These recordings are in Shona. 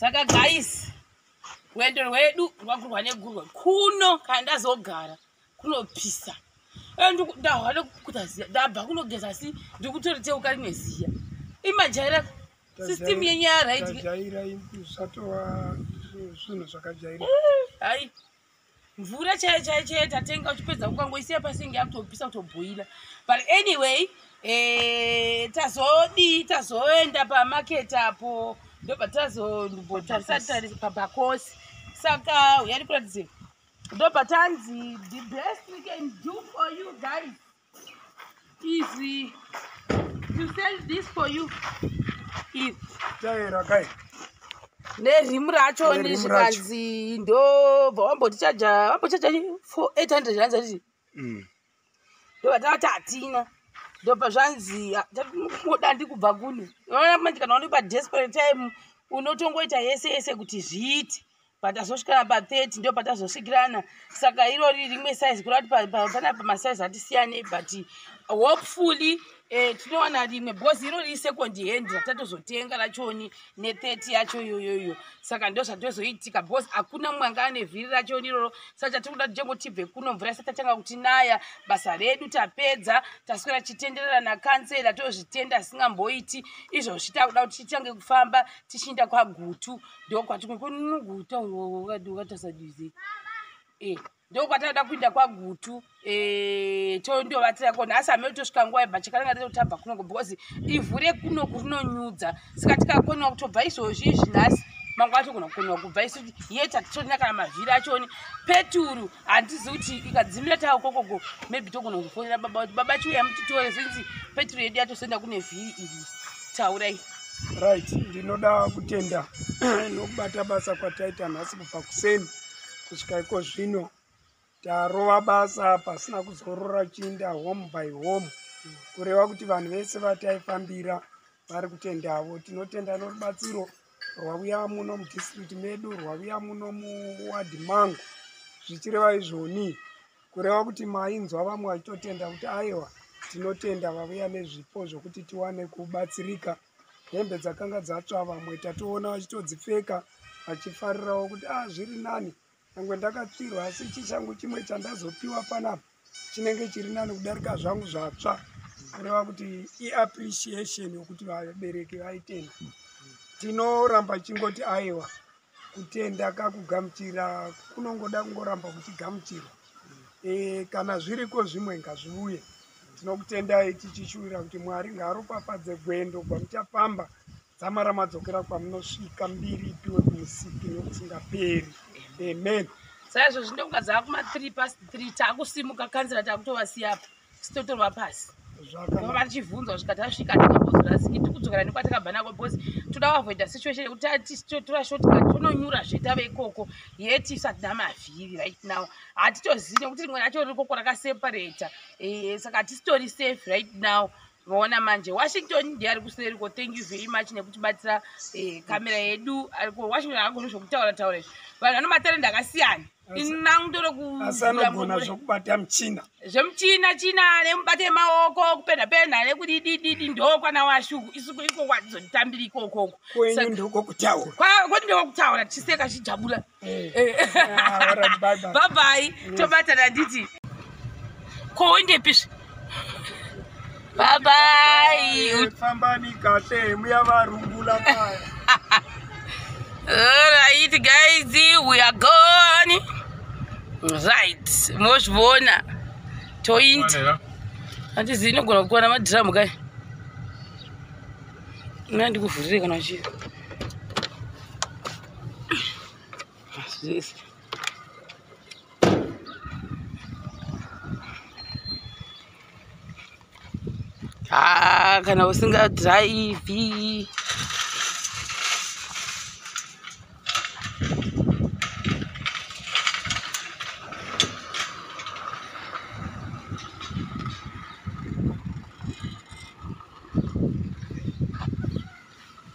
saka guys rwendo rwedu rwakurwa negurwa kuno kana ndazogara kunopisa ndahwa nekukuta ziya ndabva kunogeza asi ndiri kutoriteuka rimwe ziya imajaira system yenyaya raidyaira usatova zvinhu zvakajaira eh, hai mvura chaiyo chaiyo chaiyo tatenga uchipedza kukangoisiya pasinge yakutopisa kutobhoila but anyway eh, tazodii tazoenda pamaket apo ndobva tazombotarisataris pabakosi saka uyari kuratidze ndobva tanzi the best we can do for you guys Easy. To sell this for you. Easy. Taera kai. nerimu racho zvikanzi ndobva wambotichaja wambochaja for 800 ranzi atiti mm. ndovatavati hatina ndopa zvanzi dandi kubva kune oona manje kana une padesperate time unotongoita yese yese kuti zviite patazosvikana pa30 ndo patazosvikirana saka irori rimwe size kurati pana pamasize atisiyane but hopefully eh, tinowana rimwe because irori isecond hand ratatozotenga rachoni ne30 yacho iyoyoyo saka ndo zvatozoitika because hakuna mumwe anga ane vhiri rachoni iroro saka chatiri kuda titengo tibve kuno mvura isati tatanga kuti naya basa redu tapedza taswera chitenderera nakansela tozvitenda asingamboiti izvozvi takuda kuti titange kufamba tichiinda kwagutu ndokwati kwekononoguta ukatasaduze eh, ndokwataida kuinda kwagutu eh, tondovatira kona asi hamei tosvika nguva yebva chakananga totobva kunoko because ivhu rekunoku rinonyudza saka tikakoniwa kutobva izvozvi izvi nhasi mangwana togona kukoniwa kubva isu yeta titorina kana mavhiri achoni peturu handizi kuti ikadzimira tawo kokoko maybe togona kuzofonera baba kuti baba chiuya mutitore since petro yedu yatozoenda kune vhiri iri taurai right ndinoda kutenda nokubata basa kwataita nhasi kubva kuseni kusvika iko zvino tarova basa pasina kuzorora chiinda home by home kureva kuti vanhu vese vataifambira vari kutendavo tinotenda norubatsiro rwavuya muno mudistrict medu rwavuya muno muwadhi mangu zvichireva izvoni kureva kuti mainzwa vamwe vachitotenda kuti aiwa tinotenda vavuya nezvipo zvokuti tiwane kubatsirika hembe dzakanga dzatsva vamwe tatoona vachitodzipfeka vachifarirawo kuti a ah, zviri nani nyangwe ndakapfirwa asi ichi changu chimwe chandazopiwa panapa chinenge chiri nani kudarika zvangu zvatsva kureva kuti iappreciation yokuti vabereki vaitenda tinoramba chingoti aiwa kutenda kakugamuchira kunongoda kungoramba kuchigamuchirwa e, kana zviriko zvimwe ngazviuye tinokutendai tichishuwira kuti mwari ngaaropafadze gwendo gwamuchapamba Dzamara madzokera kwamunosvika mbiri ipiwe kumusiki nokusingaperi. Amen. Saizvo zvino kunga dzava kuma 3 past 3 takusimuka kanzira takutovasiya apa sitotorwa pasi vava vachibvunzwa svika tasvika tikambozorasiki tikudzokera nekwatakabva nako bcause toda kuavoida situation yekuti tatitora shotka tononyura zvetave ikoko yeti isatida mavhiri right now hatitozivi nekuti rimwe racho rikoko rakaseparata eh, saka hatisitori safe right now maona manje washington ndiye ari kuseri ko thank you very much nekutibatsira kamera eh, yedu ariko washington agoni zvokutaura taura izvi vanhu vano matarenda akasiyana inangutorekuasanogona zvokubata muchina zvemuchina china nemubata emaoko kupenda penda nekudidididi ndokwana washuku isuku iko kwadzotambiri ikokoko kwenyu ndokokutaura kwati ndokokutaura tiseka chijabula Eh. Eh. Ah, babai tobatana nditi kowendepisvi babai eh, fambani kahle muya varungula kaya right guys we are gone right mozvivona toinda handizi inogona kukwana madhiramu kai nandikuvhurire kana chii Yes. Ah, kana usinga drive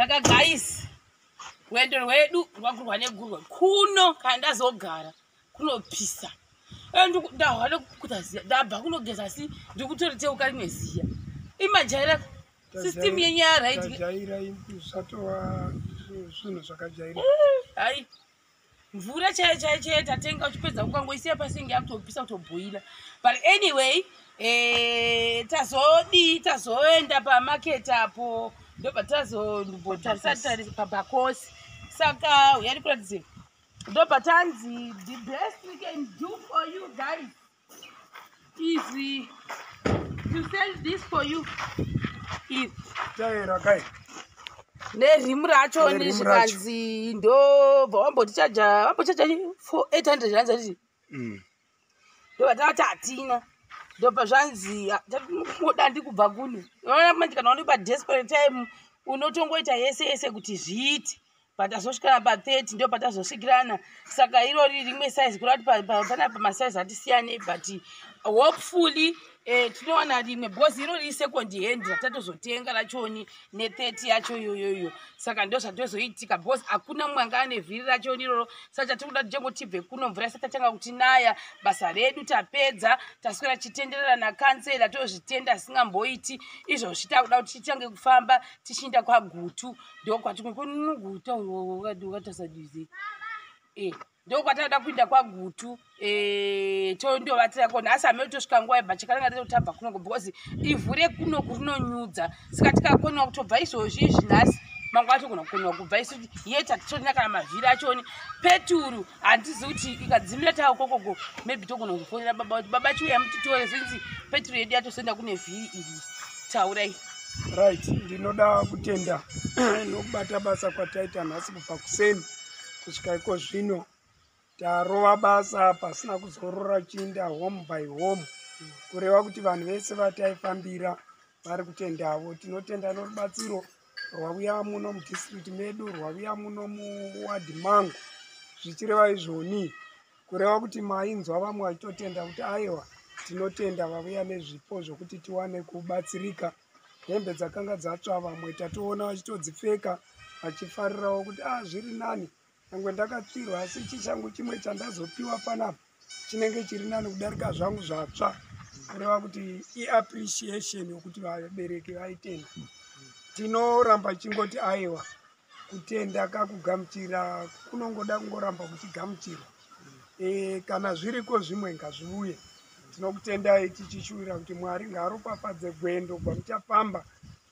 saka guys rwendo rwedu rwakurwa negurwa kuno kana ndazogara kunopisa ndabva kunogeza asi ndikutoriteuka rimwe ziya imajaira system yenyaya raitizvinhu zvakajaira eh, mvura chaiyo chaiyo chaiyo tatenga uchipedza ukangoisiya pasi inge yakutopisa kutobhoila but anyway eh, tazodii tazoenda pamarket apo ndobva tazondibotarisatari pabakosi saka uyari kuratidze ndobva tanzi the best we can do for you guys Easy. To sell this for you. Easy. Taera kai. nerimu racho zvikanzi ndobva wambotichaja wambochaja for 800 ranzi atiti mm. ndobata vati hatina ndopa zvanzi tatimoda ndi kubva kune oona manje kana unopa desperate time unotongoita yese yese kuti zviite patazosvikana pa 30 ndo patazosvikirana saka irori rimwe size kura kuti pana pamasize atisiyane but hopefully eh, tinowana rimwe because irori isecond hand ratatozotenga rachoni ne30 yacho iyoyoyo saka ndo zvatozoitika because hakuna mumwe anga ane vhiri rachoni iroro saka chatiri kuda titengo tibve kuno mvura isati tatanga kuti naya basa redu tapedza taswera tichitenderera nakansela tozvitenda asingamboiti izvozvi takuda kuti titange kufamba tichiinda kwagutu ndokwati kunuguta ukatasaduse eh, ndokwataida kuinda kwagutu eh, tondovatira kona asi hamei tosvika nguva yebva chakananga totobva kunoko because ivhu rekunoku rinonyudza saka tikakonewa kutobva izvozvi izvi nhasi mangwana togona kukonewa kubva isu yeta titorina kana mavhiri achoni peturu handizi kuti ikadzimira tawo kokogo maybe togona kufonera baba kuti baba chiuya mutitore since petro yedu yatosoenda kune vhiri iri taurai right ndinoda kutenda nokubata basa kwataita nhasi kubva kuseni kusvika iko zvino tarova basa pasina kuzorora chiinda home by home kureva kuti vanhu vese vataifambira vari kutendavo tinotenda norubatsiro rwavuya muno mudistrict medu rwavuya muno muwadhi mangu zvichireva izvoni kureva kuti mainzwa vamwe vachitotenda kuti aiwa tinotenda vavuya nezvipo zvokuti tiwane kubatsirika hembe dzakanga dzatsva vamwe tatoona vachitodzipfeka vachifarirawo kuti a ah, zviri nani nyangwe ndakatsvirwa asi ichi changu chimwe chandazopiwa panapa chinenge chiri nani kudarika zvangu zvatsva kureva kuti iappreciation yokuti vabereki vaitenda tinoramba chingoti aiwa kutenda kakugamuchira kunongoda kungoramba kuchigamuchirwa e, eh, kana zviriko zvimwe ngazviuye tinokutendai tichishuwira kuti mwari ngaaropafadze gwendo gwamuchafamba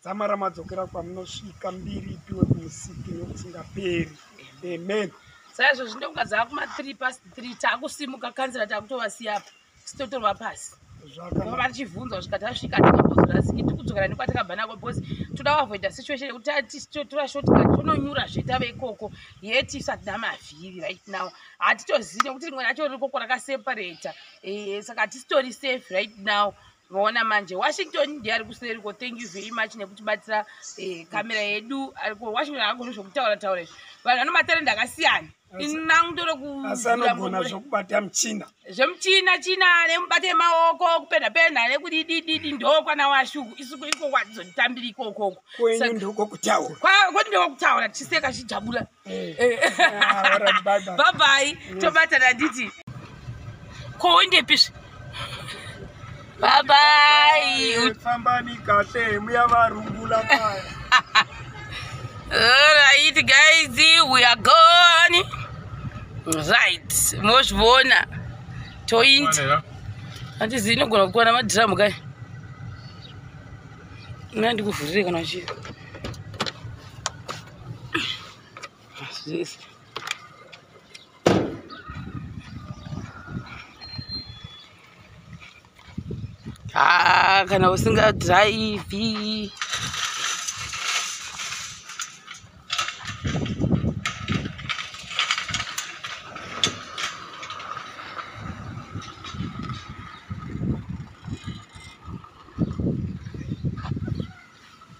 dzamara madzokera kwamunosvika mbiri ipiwe kumusiki nokusingaperi amen saizvo zvino kunga dzava kuma three past three takusimuka kanzira takutovasiya apa sitotorwa pasi zvakava tichivhunzwa svika tasvika tikambozorasiki tikudzokera nekwatakabva nako bcause toda kuavoida situation yekuti tatitora shotka tononyura zvetave ikoko yet isatida mavhiri right now hatitozivi nekuti rimwe racho rikoko rakaseparata eh, saka tisitori safe right now maona manje washington ndiye ari kuseri ko thank you very much nekutibatsira eh, kamera yedu ariko washington akagona zvokutaura taura izvi vanhu vano matarenda akasiyana inangutorekuanogona zvokubata muchina zvemuchina china nemubata emaoko kupenda penda nekudidididi ndokwana washuku isuku iko kwatizotitambira ikokoko kwenyu ndokokutaura kwati ndokokutaura tichiseka chijabula Eh. Eh. babai mm. tobatana nditi ko wendepisvi babai eh, fambani kahle muya varungula kaya right guys we are gone right mozvivona toinda handizi inogona kukwana madhiramu kai mna ndikuvhurire kana chii Yes. Ah, kana usinga drive